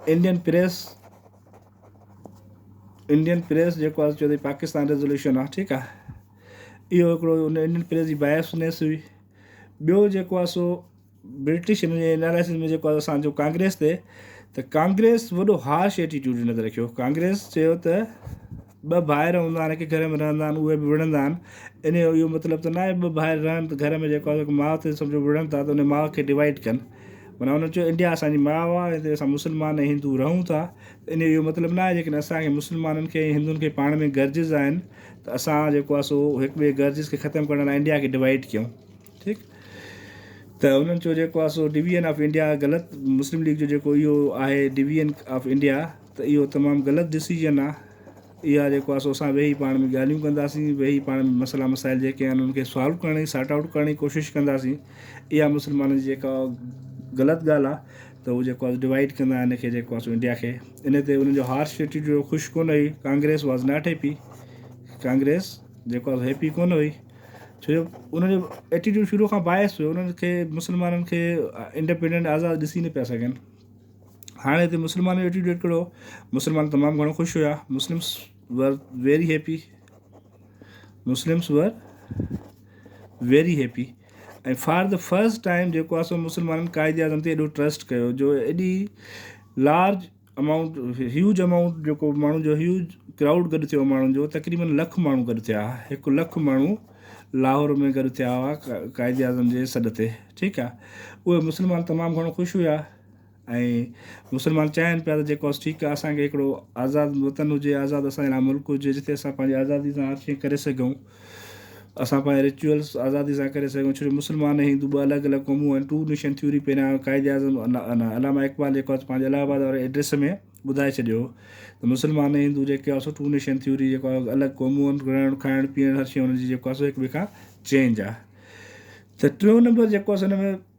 Indian press Indian press جيڪو آهي چوي تي پاڪستان ريزولوشن آهي ٺيڪ آهي اهو هڪڙو ان انڊين پريس جي بايس نيس هئي ٻيو جيڪو آهي سو برٽش ان جي اناليسز ۾ جيڪو آهي اسانجو ڪانگريس تي ته ڪانگريس وڏو هارش ايٽيٽيوٽ نظر رکيو ڪانگريس چيو ته ٻه ڀائر هوندا آهن هڪ گهر ۾ رهندا آهن اهي به وڙهندا آهن ان جو اهو مطلب ته ناهي ٻه ڀائر رهن ته گهر ۾ جيڪو آهي سو ماء تي سمجهو وڙهن ٿا ته ان ماء کي ڊوائيڊ ڪن معنيٰ انهن چيو انڊيا اسانجي ماء آهي ۽ هتي اسان مسلمان ۽ هندو رهون ٿا ان جو اهو مطلب ناهي جيڪڏهن اسانکي مسلمانن کي ۽ هندن کي پاڻ ۾ گرجز آهن ته اسان جيڪو آهي سو هڪ ٻئي گرجز کي ختم ڪرڻ لاء انڊيا کي ڊوائيڊ ڪيون ٺيڪ ته انهن چيو جيڪو آهي سو ڊويزن آف انڊيا غلط مسلم ليگ جو جيڪو اهو آهي ڊويزن آف انڊيا ته اهو تمام غلط ڊسيزن آ اها جيڪو آ سو اسان ويهي پاڻ ۾ ڳالهيون ڪنداسين ويهي پاڻ ۾ مسئلا مسائل جيڪي آهن انهن کي سالو ڪرڻ جي سارٽ آئوٽ ڪرڻ جي ڪوشش ڪنداسين اها مسلمانن جي جيڪا غلط ڳالهه آ ته هو جيڪو آ ڊوائيڊ ڪندا آهن ان کي جيڪو آ سو انڊيا کي ان تي انهن جو هارش ايٽيٽيوڊ هو خوش ڪونه هئي Congress was not happy Congress جيڪو آ سو هيپي ڪونه هئي ڇو جو انهن جو ايٽيٽيوڊ شروع کان باعث هو انهن کي مسلمانن کي انڊيپنڊنٽ آزاد ڏسي نه پيا سگهن هاڻي هتي مسلمان جو ائٽيٽيوڊ ڪهڙو هو؟ مسلمان تمام گهڻو خوش هيا. Muslims were very happy Muslims were very happy ۽ for the first time جيڪو آهي سو مسلمانن قائد اعظم تي ايڏو ٽرسٽ ڪيو جو ايڏي لارج امائونٽ هيوج امائونٽ جيڪو ماڻهو جو هيوج ڪرائوڊ گڏ ٿيو ماڻهن جو تقريبن لک ماڻهو گڏ ٿيا هڪ لک ماڻهو لاهور ۾ گڏ ٿيا هئا قائد اعظم جي سڏ تي ٺيڪ آهي اهي مسلمان تمام گهڻو خوش هيا ۽ مسلمان چاهين پيا ته جيڪو بس ٺيڪ آهي اسان کي هڪڙو آزاد وطن هجي آزاد اسان جي لاء ملڪ هجي جتي اسان پنهنجي آزادي سان هر شيء ڪري سگهون اسان پنهنجا رچوئلس آزادي سان ڪري سگهون ڇو جو مسلمان ۽ هندو ٻه الڳ الڳ قومون آهن ٽو نيشن ٿيوري پهريان قائد اعظم علامه اقبال جيڪو آهي پنهنجي الهه آباد واري ايڊريس ۾ ٻڌائي ڇڏيو هو ته مسلمان ۽ هندو جيڪي آهيو سو ٽو نيشن ٿيوري جيڪو آهي الڳ قومون آهن رهڻ کائڻ پيئڻ هر شيء هنن جي جيڪو آهي سو هڪ ٻئي کان چينج آهي ته ٽيون نمبر جيڪو آهي سو هن ۾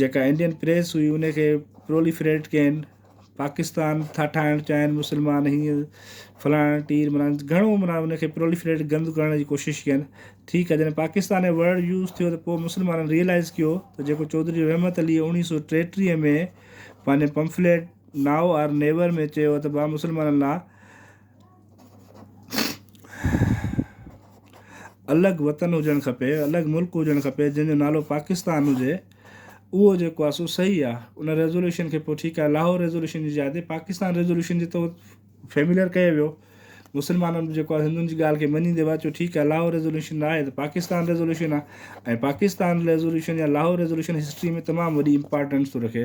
جيڪا انڊين پريس هئي ان کي پروليفريٽ ڪين پاڪستان ٿا ٺاهڻ چاهين مسلمان هيئن فلاڻا ٽير منا گهڻو منا ان کي پروليفريٽ گند ڪرڻ جي ڪوشش ڪين ٺيڪ آهي جڏهن پاڪستان ۽ ورڊ يوز ٿيو ته پوء مسلمانن ريئلائز ڪيو ته جيڪو چوڌري رحمت علي اوڻيهه سو ٽيٽيهه ۾ پنهنجي پمفليٽ نائو آر نيور ۾ چيو ته ڀا مسلمانن لا الڳ وطن هجڻ کپي الڳ ملڪ هجڻ کپي جنهن جو نالو پاڪستان هجي اهو جيڪو آسو صحيح آ ان ريزولوشن کي پوء ٺيڪ آ لاهور ريزولوشن جي جاء تي پاڪستان ريزولوشن جي تو فيمليئر ڪيو ويو مسلمانن به جيڪو آ هندن جي ڳالهه کي مڃي دي واچو ٺيڪ آ لاهور ريزولوشن آهي ته پاڪستان ريزولوشن آ ۽ پاڪستان ريزولوشن يا لاهور ريزولوشن هسٽري ۾ تمام وڏي امپارٽنس ٿو رکي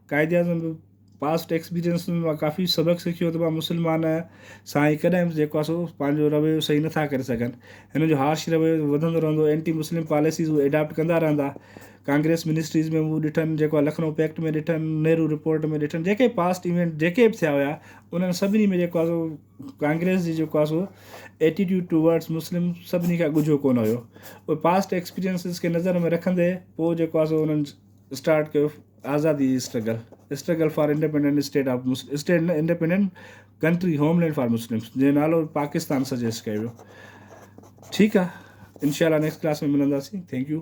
قائد اعظم به پاسٽ ايڪسپيرينس ۾ مان ڪافي سبق سکيو ته مان مسلمان سان هي ڪڏهن به جيڪو سو پنهنجو رويو صحيح نٿا ڪري سگهن هن جو هارش رويو وڌندو رهندو اينٽي مسلم پاليسيز هو ايڊاپٽ ڪندا رهندا ڪانگريس منسٽريز ۾ مون ڏٺن جيڪو آ لکنؤ پيڪٽ ۾ ڏٺن نهرو رپورٽ ۾ ڏٺن جيڪي پاسٽ ايونٽ جيڪي به ٿيا هيا انهن سڀني ۾ جيڪو آ سو ڪانگريس جي جيڪو آ سو ايٽيٽيوڊ ٽو ورڊس مسلم سڀني کان ڳجهو ڪونه هيو پاسٽ ايڪسپيرينسز کي نظر ۾ رکندي پوء جيڪو آ سو انهن اسٽارٽ ڪيو آزادي جي struggle struggle for independent state of state نه independent country homeland for Muslims جنهن نالو پاڪستان سجيسٽ ڪيو ويو ٺيڪ آ انشاء الله نيڪسٽ ڪلاس ۾ ملنداسين ٿينڪ يو